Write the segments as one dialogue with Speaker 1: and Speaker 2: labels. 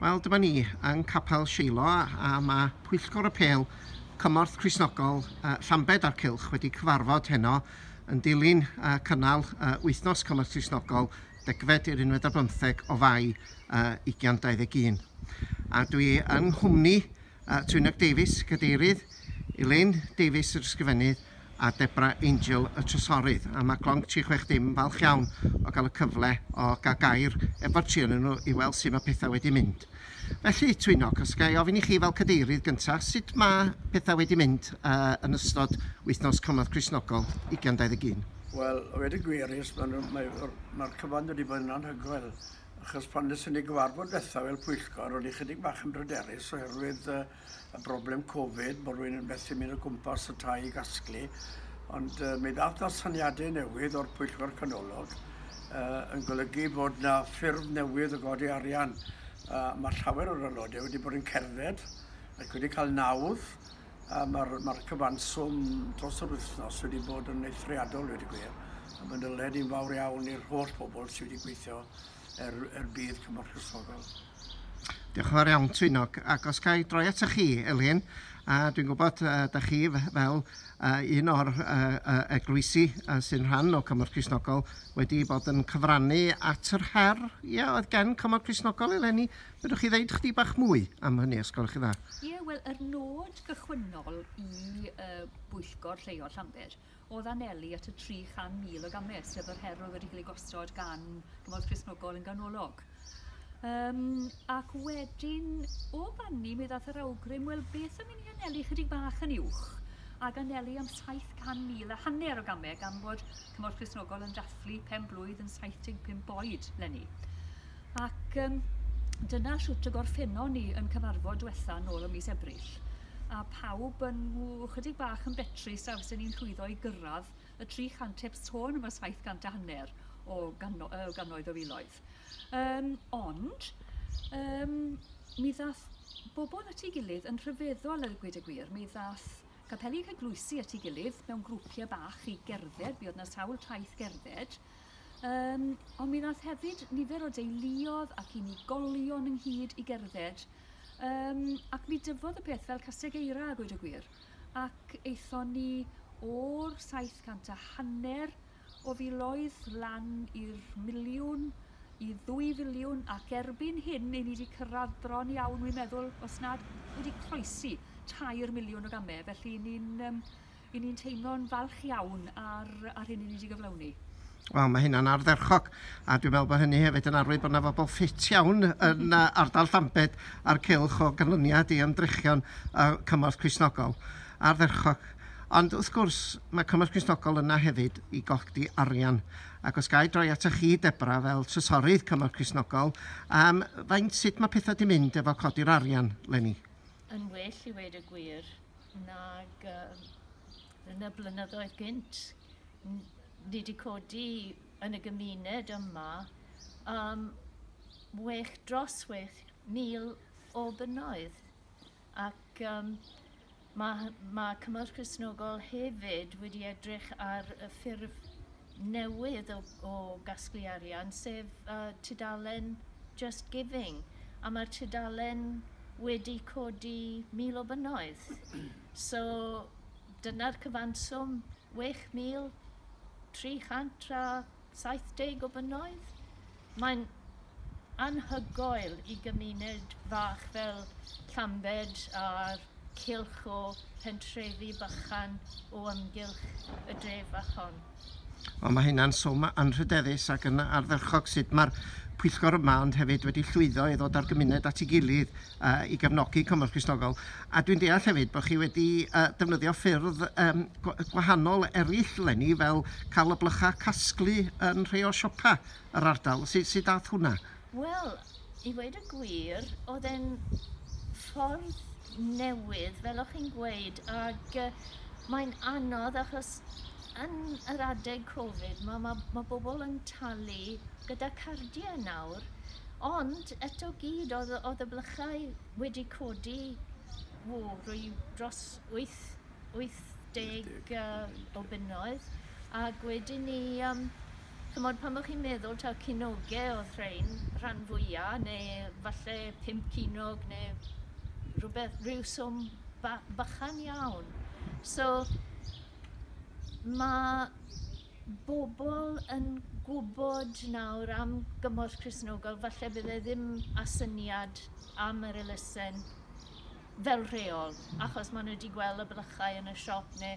Speaker 1: Wel, dyma ni yng Capel Seilo a mae Pwyllgor y Pêl Cymorth Cristnogol uh, Llambed a'r Cylch wedi cyfarfod heno yn dilyn uh, cynnal uh, wythnos Cymorth Cristnogol degfed i'r unfed ar bymtheg o fai uh, 2021. A dwi yng nghwmni a Twynog Davies, Cadeirydd, Elaine Davies, yr Ysgrifennydd, a Debra Angel, y Trysorydd. A mae Gronk 360 yn falch iawn o gael y cyfle o gael gair efo'r tri yn nhw i weld sut mae pethau wedi mynd. Felly, Twynog, os ga i ofyn i chi fel Cadeirydd gyntaf, sut mae pethau wedi mynd uh, yn ystod wythnos cymorth Christnogol 2021? Wel, wedi
Speaker 2: gweirus, mae'r mae, mae cyfan wedi bod yn anhygoel. achos pan nes i ni gyfarfod ddiwethaf fel pwyllgor, ro'n i chydig bach yn bryderus oherwydd uh, y broblem Covid, bod rwy'n yn methu mynd o gwmpas y tai i gasglu, ond uh, mi ddath na syniadau newydd o'r pwyllgor canolog uh, yn golygu bod na ffurf newydd o godi arian. Uh, mae llawer o'r aelodau wedi bod yn cerdded ac wedi cael nawdd A mae'r ma cyfanswm dros yr wythnos wedi bod yn eithriadol, wedi gwir. A mae'n dyled i'n fawr iawn i'r holl bobl sydd wedi gweithio er, er bydd Cymru Chrysfogol. Diolch
Speaker 1: yn fawr iawn, Twynog. Ac os cael droi at chi, Elin, a dwi'n gwybod uh, da chi fel uh, un o'r uh, uh, eglwysi uh, sy'n rhan o Cymru Chrysnogol wedi bod yn cyfrannu at yr her ia, oedd gen Cymru Chrysnogol eleni Fedrwch chi ddeud chdi bach mwy am hynny os gwelwch chi dda? Ie, wel, yr nod
Speaker 3: gychwynnol i y bwyllgor lleol Llanbed oedd anelu at y 300,000 o gamau, sef yr her oedd wedi cael ei gosod gan Gymorth Cristnogol yn ganolog. Um, ac wedyn, o fanni, mi ddath yr awgrym, wel, beth am i ni anelu chydig bach yn uwch? ac anelu am 700,000 a hanner o gamau gan fod Cymorth Cristnogol yn dathlu pen blwydd yn 75 oed lenni. Ac um, dyna shwt y gorffennon ni yn cyfarfod diwetha nôl ym mis Ebrill. A pawb yn chydig bach yn betrus a fysyn ni'n llwyddo i gyrraedd y 300 heb sôn am y 700 a hanner o gano, uh, ganoedd o filoedd. Um, ond, um, mi ddath bobl at ei gilydd yn rhyfeddol a gwyd y gwir. Mi ddath Capeli yn cycloesi at ei gilydd mewn grwpiau bach i gerdded, mi oedd yna sawl taith gerdded, um, ond mi ddath hefyd nifer o deuluodd ac unigolion ynghyd i gerdded, um, ac mi dyfodd y peth fel caseg eira a gweud y gwir, ac eithon ni o'r 700 a hanner o filoedd lan i'r miliwn, i ddwy filiwn, ac erbyn hyn i ni wedi cyrraedd bron iawn, wi'n meddwl, os nad wedi croesi tair miliwn o gamau, felly i ni'n um, i ni'n teimlo'n falch iawn ar, ar hyn i ni wedi gyflawni. Wel, mae hynna'n
Speaker 1: ardderchog, a dwi'n meddwl bod hynny hefyd yn arwydd bod yna fobl ffit iawn yn ardal Llambed a'r cylch o ganlyniad i ymdrechion y cymorth Crisnogol. Ardderchog. Ond wrth gwrs, mae Cymorth Cristnogol yna hefyd i godi arian, ac os ga i droi atoch chi, Deborah, fel Trysorydd Cymorth Cristnogol, yym, faint, sut mae pethau 'di mynd efo codi'r arian 'leni? Yn well
Speaker 4: i weud y gwir nag yy yn y blynyddoedd gynt. N- ni 'di codi yn y gymuned yma yym wech dros wech mil o bunnoedd. Ac yym ma' hy- ma' Cymorth Cristnogol hefyd wedi edrych ar y ffurf newydd o o gasglu arian sef yy tudalen Just Giving a ma'r tudalen wedi codi mil o bunnoedd so dyna'r cyfanswm, wech mil tri chant a saith deg o bunnoedd. Mae'n anhygoel i gymuned fach fel Llambed a'r cylch o phentrefi bychan o amgylch y dref fach hon. Wel mae
Speaker 1: hynna'n swm anrhydeddus ac yn ardderchog sut mae'r pwyllgor yma ond hefyd wedi llwyddo i ddod â'r gymuned at ei gilydd i gefnogi Cymorth Cristnogol. A dwi'n deall hefyd bod chi wedi defnyddio ffyrdd gwahanol eraill eleni fel cael y blychau casglu yn rhai o'r siopau. yr ardal. Sut, sut dath hwnna? Wel,
Speaker 4: i ddweud y gwir, oedd e'n ffordd newydd, fel o'ch chi'n gweud, ac uh, mae'n anodd achos yn yr adeg Covid mae, ma, ma bobl yn talu gyda cardiau nawr, ond eto gyd oedd, oedd y blychau wedi codi wo, rwy dros 8, 80 uh, o bunnoedd, ac wedyn ni um, Ch'mod pan bo' chi'n meddwl taw cinoge odd rhein rhan fwya neu falle pump cinog ne' rwbeth ryw swm ba- bychan iawn so ma' bobol yn gwbod nawr am gymorth Cristnogol falle bydd e ddim â syniad am yr elusen fel rheol achos ma' nw 'di gwel' y blychau yn y siop ne'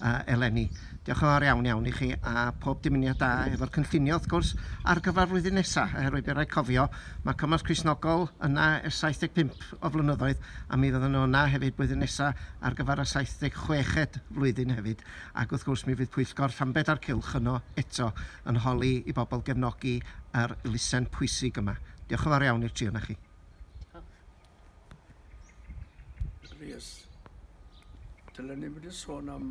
Speaker 1: yy eleni. Diolch yn fawr iawn iawn i chi a pob dymuniad da efo'r cynllunio wrth gwrs ar gyfer flwyddyn nesa oherwydd bydd raid cofio ma' cymorth Cristnogol yna ers 75 o flynyddoedd a mi fyddan nhw yna hefyd blwyddyn nesa ar gyfer y 76ed flwyddyn hefyd ac wrth gwrs mi fydd pwyllgor Llambed a'r Cylch yno eto yn holi i bobl gefnogi yr elusen pwysig yma. Diolch yn fawr iawn i'r tri o'na chi.
Speaker 2: Rhys. Dylen ni wedi sôn am